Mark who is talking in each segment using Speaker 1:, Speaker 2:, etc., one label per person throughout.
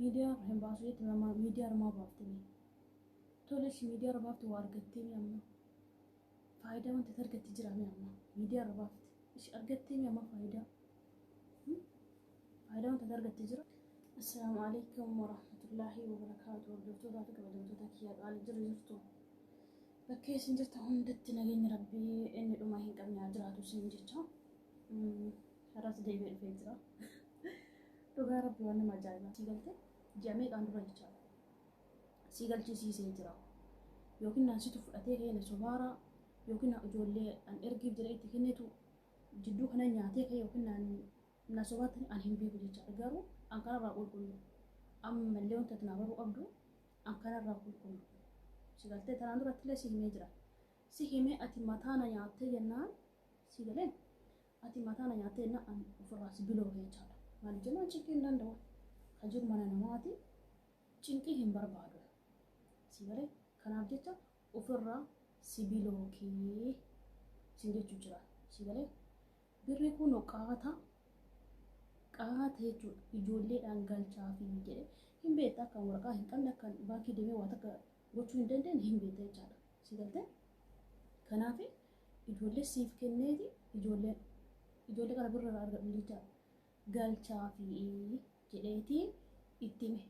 Speaker 1: Miidiyaa irra hin baasu jette amma miidiyaa irra maa baafte mee? Tole si miidiyaa irra baafte waa argattee mee amma? Faayidaa wanti ati argatte jira mee amma? Miidiyaa irra baafte. Ishi argattee mee amma faayidaa? Hmm? Faayidaa wanti ati argatte jira? Assalaamu alaikum warahmatullaahi wabarakaatu hordoftoota fi kabajamtoota kiyya qaali jiru jirtu. Bakkee isin jirta hundatti nageenyi rabbii inni dhuma hin qabne haa jiraatu isin jecha. Mm. Har'as deebi'ee dhufee jira. Dhugaa rabbi waan nama ajaa'ibaa sii galtee ji'a meeqaan dura jechaadha. Sii galchisiisee jira. Yookiin naan situ fudhatee ka'ee na sobaara yookiin ijoollee an ergiif jedhee itti kennitu jidduu kana nyaatee ka'ee yookiin naan na sobaatti an hin beeku jechaadha. Garuu an kanarraa qulqullu. Ammallee wanta ati naa baruu qabdu an kanarraa qulqullu. Si galtee tanaan duratti illee si himee jira. Si himee ati mataa na nyaattee jennaan si galee Ati mataa na nyaattee na an ofirraa si bilooge jechaadha. Maaliif jennaan cinqii hin danda'u. Ka jiru mana namaati. Cinqii hin barbaadu. Si galee kanaaf jecha ofirraa si bilookii sin jechuu jira. Si galee birri kun qaata qaata jechuudha. Ijoolleedhaan galchaa fi jedhee hin beekta akka waraqaa hin qabne akka baankii deemee waa takka gochuu hin dandeenye hin beekta jechaadha. Si galtee? Kanaaf ijoollee siif kenneeti ijoollee ijoollee kana birra irraa argadhu jecha galchaa fi jedheeti itti hime.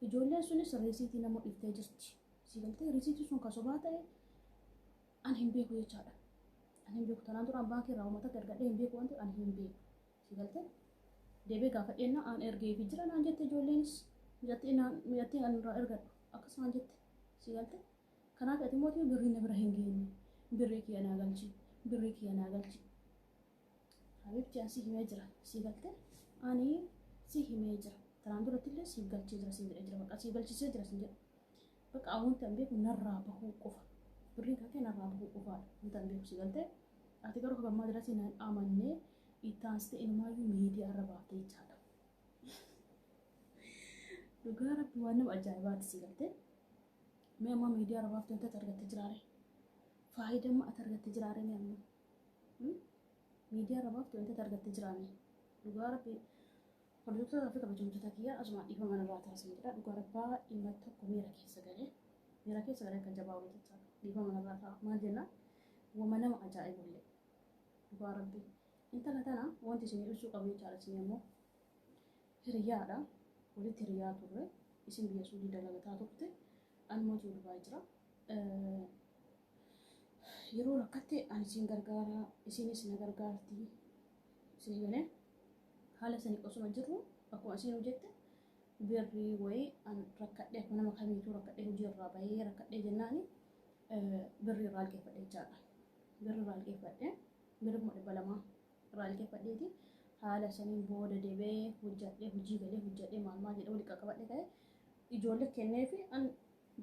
Speaker 1: Ijoolleen sunis riisiitii nama dhiftee jirti. Si galtee riisiitii sun kan sobaa ta'e an hin beeku jechaadha. An hin beeku tanaan duraan baankii irraa uummata argadhee hin beeku waan ta'eef an hin beeku. Si galte deebee gaafadheen na aan ergee fi jira naan jette ijoolleenis mijattii naan mijattii aan irraa ergadhu akkas naan jette si galte kanaaf ati mootii birrii na bira hin geenye birrii kiyya naa galchi birrii kiyya naa galchi habiibti aan si himee jira si galte ani si himee jira tanaan duratti illee siif galchee jira siin jedhee jira maqaa siif galchisee jira siin jedhe Bakka an wanti an beeku narraa bahuu qofa. Birriin kan kee narraa bahuu qofaadha. Wanti an beeku si galtee. Ati garuu hanga ammaa dirasii nan amannee itti aansitee inumaayyuu miidiyaa irra baafte jechaadha. Dhugaa rabbi waan nama ajaa'ibaati si galtee. Mee ammaa miidiyaa irra baafte wanti ati argatte jiraare. Faayidaa amma ati argatte jiraare mee ammaa. Miidiyaa irra baafte wanti ati argatte jiraame. Dhugaa rabbi Hordoftoota fi kabajamtoota kiyya asumaan dhiifama narraa ta'a isin jedha dhugaa rabbaa dhimma tokko miira keessa galee miira keessa galee akka jabaa wayii jecha dhiifama narraa ta'a maal jenna wama nama ajaa'ibullee dhugaa rabbi intala tana wanti isin ibsuu qabu jechaadha isin ammoo hiriyaadha walitti hiriyaa turre isin biyya suudii dalagataa turte an mootii durbaa jira yeroo rakkatte an isin gargaara isinis na gargaarti isin galee Haala sani osuma jirru akkuma isiinuu jette birrii wayii an rakkadhee akkuma nama kamiituu rakkadhee hojii irraa bahee rakkadhee jennaani birrii irraa liqeeffadhe jechaadha. Birrii irraa liqeeffadhe birrii kuma dhibba lamaa irraa liqeeffadheeti haala saniin booda debee hojjadhee hojii galee hojjadhee maal maal jedhee walitti qaqqabadhe ka'e ijoollee kennee fi an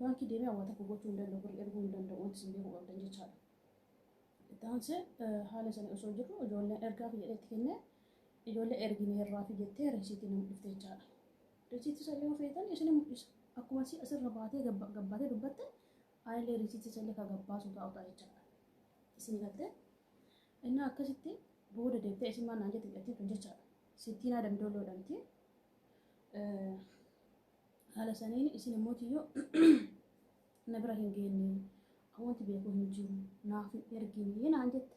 Speaker 1: baankii deemee awwaata koo gochuu hin danda'u birrii erguu hin danda'u wanti isin beekuu qabdan jechaadha. Itti aansee haala sana osoo jirru ijoolleen ergaafi jedhee itti kennee ijoollee ergineerraafi jettee risiitii na mul'ifte jechaadha. Risiitii sana yoo feetan isinii mul'isa. Akkuma isii asirra baatee gabbaatee dubbatte anillee risiitii sana ka gabbaasu taa'u ta'a jechaadha. Isinii galtee innaa akkasitti booda deebitee isin maal naan jette jedhattiin tun jechaadha. Sittiinaa damdooloo jedhamti. Haala saniin isin immoo tiyyoo na bira hin geenne an wanti beeku hin jiru naaf hin ergine naan jette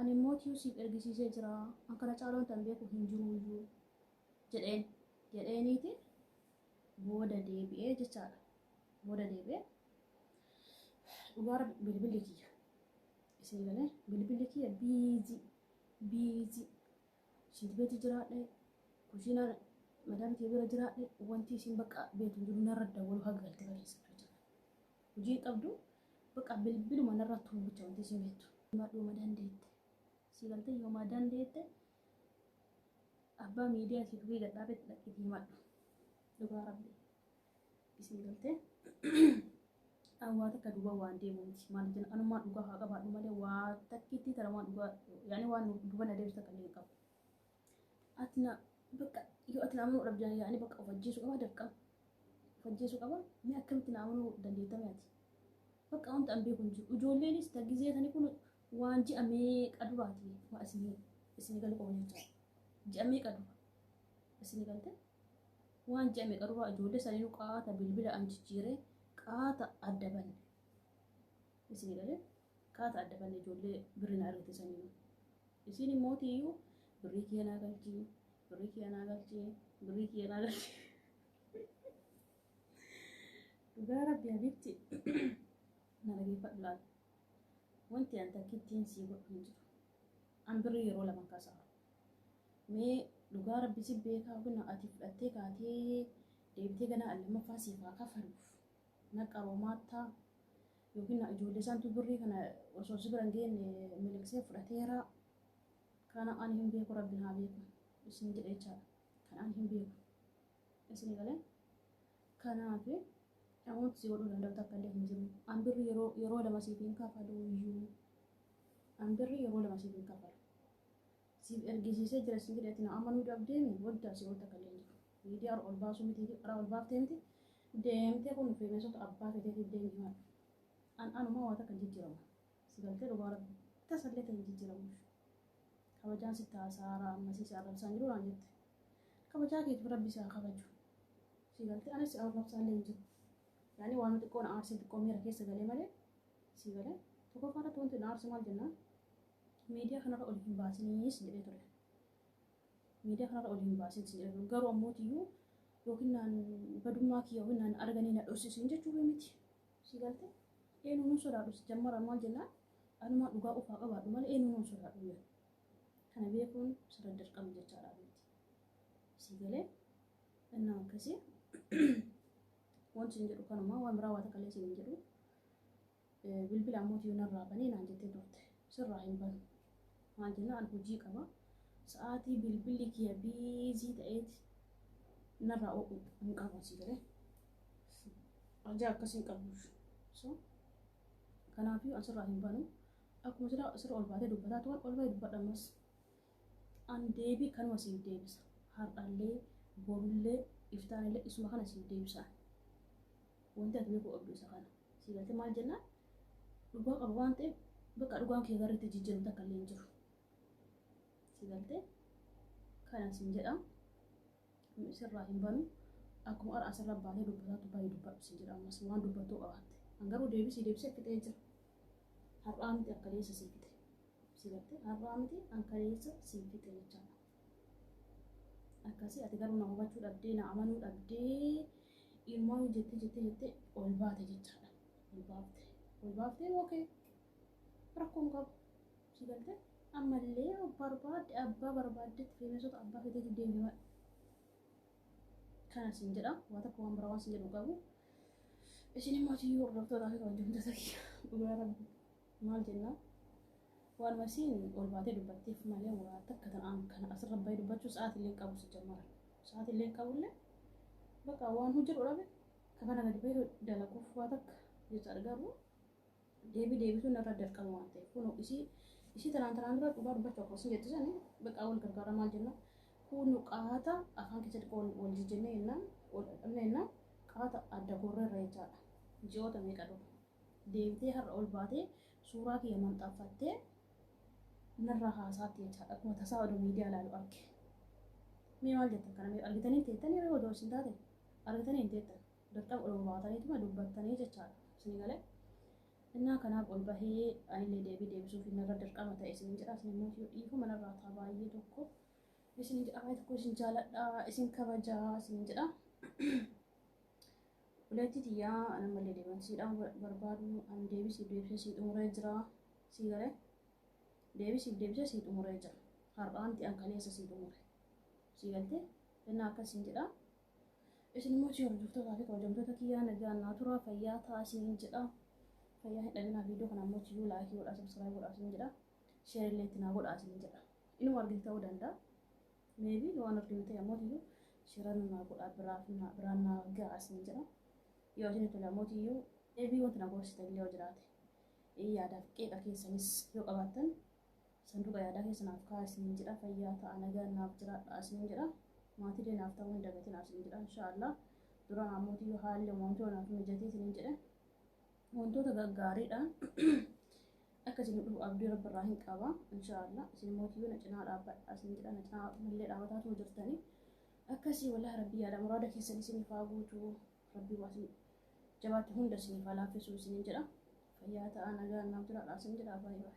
Speaker 1: ani immoo tiyuu siif ergisiisee jira an kana caalaa wanti an beeku hin jiru iyyuu jedheen jedheeniiti booda deebi'ee jechaadha booda deebi'ee dhugaara bilbilli kiyya isin galee bilbilli kiyya biizii biizii Shiint beeti jiraadhe, kushiinaan madaami tee bira jiraadhe wantii isiin bakka beetu hin jiru narra dawwaluu haga galte baleessatu jechuudha. Hujii hin qabdu bakka bilbiluma narra tumuu bicha wantii isiin beettu. Himadhu yoma dandeette. Sii galtee yoma dandeette abbaa miidiyaa isii tuqii gad dhaabetti dhaqiitii himadhu. Dhugaa rabbii. isin galte waa takka duuba waan deemu miti maal jenna anumaa dhugaa haa qabaadhu malee waa takkitti tara waan dhugaa yaani waan duuba na deebisu takka illee qabu ati na bakka yoo ati na amanuu dhabdan yaani bakka of ajjeesuu qaba dirqama of ajjeesuu qaba mee akkamitti na amanuu dandeettame ati bakka wanta an beeku hin jiru ijoolleenis tagizee tani kun waan ji'a meeqa duraati waa isin isin galu qabu jechaa ji'a meeqa dura isin galte Waan ji'a meeqa duraa ijoollee saniinuu qaata bilbila an jijjiiree qaata adda banne. Isinii galee qaata adda banne ijoollee birri na ergite saniinuu. Isiin immoo tiyyuu birrii kiyya naa galchii birrii kiyya naa galchii birrii kiyya naa galchii. Dhugaa rabbi habiibti na dhageeffadhu laal. Wanti an takkittiin sii godhu hin jiru. An birrii yeroo lama kasaaru. Mee dhugaa rabbi si beekaa hogna ati fudhattee kaatee deebitee ganaa al lammaffaa siif haa kafaluuf na qaroomaattaa yookiin ijoollee santu birrii kana osoo si bira hin geenne miliqsee fudhateeraa kana ani hin beeku rabbi haa beeku isin jedhe jechaadha kan ani hin beeku isin galee kanaaf namoota si godhuu danda'u takka illee hin jiru an birri yeroo yeroo lama siif hin kafalu iyyuu an birri yeroo lama siif hin kafalu Siif ergisiisee jira siin jedhe ati na amanuu dhabdeemi waddaa si oolta kan leenjitu. Miidiyaa irra ol baasuu miti irraa ol baaftee miti deemtee kun feemeesota abbaa feeteetiif deemi himadhu. An anumaa waa takka hin jijjiramu. Si galtee dhugaa rabbi tasallee ta'e hin jijjiramu. Kabajaan sitti haasaara ammasii si arrabsaan jiru naan jette. Kabajaa keetiif rabbi si haa kabaju. Si galtee anis si arrabsaallee hin jiru. Yaani waanuma xiqqoo na aarsee xiqqoo miira keessa galee malee si galee tokkoffaa irratti wanti na aarse maal jennaan Miidiyaa kanarra ol hin baasinii sin jedhee ture. Miidiyaa kanarra ol hin baasin sin jedhee ture. Garuu ammootiyyuu yookiin naan badummaa kiyya yookiin naan arganii na dhossisiin jechuu kee miti. Si galte eenyu nun sodaadhu si jammara maal jennaan anumaa dhugaa ofaa qabaadhu malee eenyu nun sodaadhu jedha. Kana beekuun sirra dirqama jechaadha miti. Si galee innaa akkasii wanti sin jedhu kanumaa waan biraa waa takka illee sin hin jedhu. Bilbila ammootiyyuu narraa bani naan jettee turte. Sirraa hin banu. Maal jennaan hojii qaba. Sa'aatii bilbilli kiyya biizii ta'eeti narraa oo'u hin qabu asii galee. Ajaa akkasii hin qabu. So kanaafiyyuu an sirraa hin banu. Akkuma sirra sirra ol baatee dubbataa turan ol bahee dubbadha ammas. An deebii kanuma siif deebisa. Har'allee borullee iftaanillee isuma kana siif deebisa. Wanti ati beekuu qabdu isa kana. Sii galtee maal jennaan dhugaa qaba waan ta'eef bakka dhugaan kee garriitti jijjiiramu takka illee hin jiru. Sii galtee kana siin jedhaa nu isirraa hin banu akkuma har'a asirra baatee dubbataatu baay'ee dubbadhu siin jedha ammas waan dubbattuu qabaatte. An garuu deebisii deebisee fixee jira. Har'aa miti akka deessa sii fixe. Sii galtee har'aa miti akka deessa sii fixe jechaadha. akkasii ati garuu na hubachuu dhabdee na amanuu dhabdee ilmoon jettee jettee jettee ol baate jechaadha ol baafte ol baaftee ookee rakkoon qabu si galtee ammallee barbaadde abbaa barbaaddetti feemesota abbaa feteeti deemee waan kana siin jedha waa tokko waan biraa waan siin jedhu qabu isin immoo ati hordoftoota fi kabajamtoota kiyya dhugaa rabbi Maal jennaan waanuma isiin ol baatee dubbatteef malee waa takka tan an kana asirra bahee dubbachuu sa'aatillee hin qabu sijjammara. Sa'aatillee hin qabullee baqa waan hojjedhu dhabe ka kana gadi bahee dalaguuf waa takka jechaadha garuu deebii deebisuun narra dirqama waan ta'eef kunoo isii isii tanaan tanaan dura dhugaa dubbachuu akkuma isin jette sani baqa wal gargaara maal jennaan kunu qaata afaan keessatti wal wal jijjennee jennaan wal dhabne jennaan qaata adda gorreerra jechaadha ji'oota meeqa dura. deemtee har'a ol baatee suuraa kiyya manxaffattee narraa haasaatti jechaadha akkuma tasaa oduu miidiyaa ilaalu arge mee maal jettan kana mee argitanii teettan yeroo oduu isin taate argitanii hin teettan dirqama ol baataniituma dubbattanii jechaadha isin galee innaa kanaaf ol bahee anillee deebii deebisuuf narra dirqama ta'e isin jedha isin immoo yoo dhiifu manarraa taa baay'ee tokko isin jedha baay'ee tokko isin jaaladha isin kabajaa isin jedha Obboleettii tiyya an ammallee deebi'an sii dhaamuu barbaadu an deebii siif deebisee sii xumuree jira sii galee deebii siif deebisee sii xumuree jira har'aa miti an kaleessa sii xumure sii galtee jennaa akkas siin jedha isin immoo achii hordoftootaa fi kabajamtoota kiyyaa nagaan naa turaa fayyaa ta'a isiniin jedha fayyaa hin dhabinaa viidiyoo kana ammoo achiyyuu laayikii godhaa sabskiraayib godhaa isiniin jedha sheerii illee itti naa godhaa isiniin jedha inuma argite ta'uu danda'a Maybe waan of deemtee amootiyyuu shira namaa godhaa biraaf naa biraan naa ga'a isin jedha. Yoo isin tole amootiyyuu ebii wanti na gorsitan illee yoo jiraate ee yaadaaf qeeqa keessanis yoo qabaattan sanduuqa yaadaa keessa naaf kaa'aa isin jedha fayyaa ta'a nagaan naaf jiraadha isin jedha. Maatii illee naaf ta'uu hin dagatinaa isin jedha inshaallah. Duraan amootiyyuu haalli uumamtoo naaf mijatee isin jedha. Wantoota gaggaariidha. Akka isin dhufu abdii rabbi irraa hin qaba. Inshaallah isin immoo tiyyuu na cinaa dhaabbadha isin jedha na cinaa mallee dhaabbataa tuma jirtanii. Akkasii wallahi rabbi yaada muraada keessan isiniif haa guutu. Rabbi waa isin jabaatti hunda isiniif haa laaffisuu isiniin jedha. Fayyaa ta'aa nagaan naaf jiraadha isin jedha baay'ee.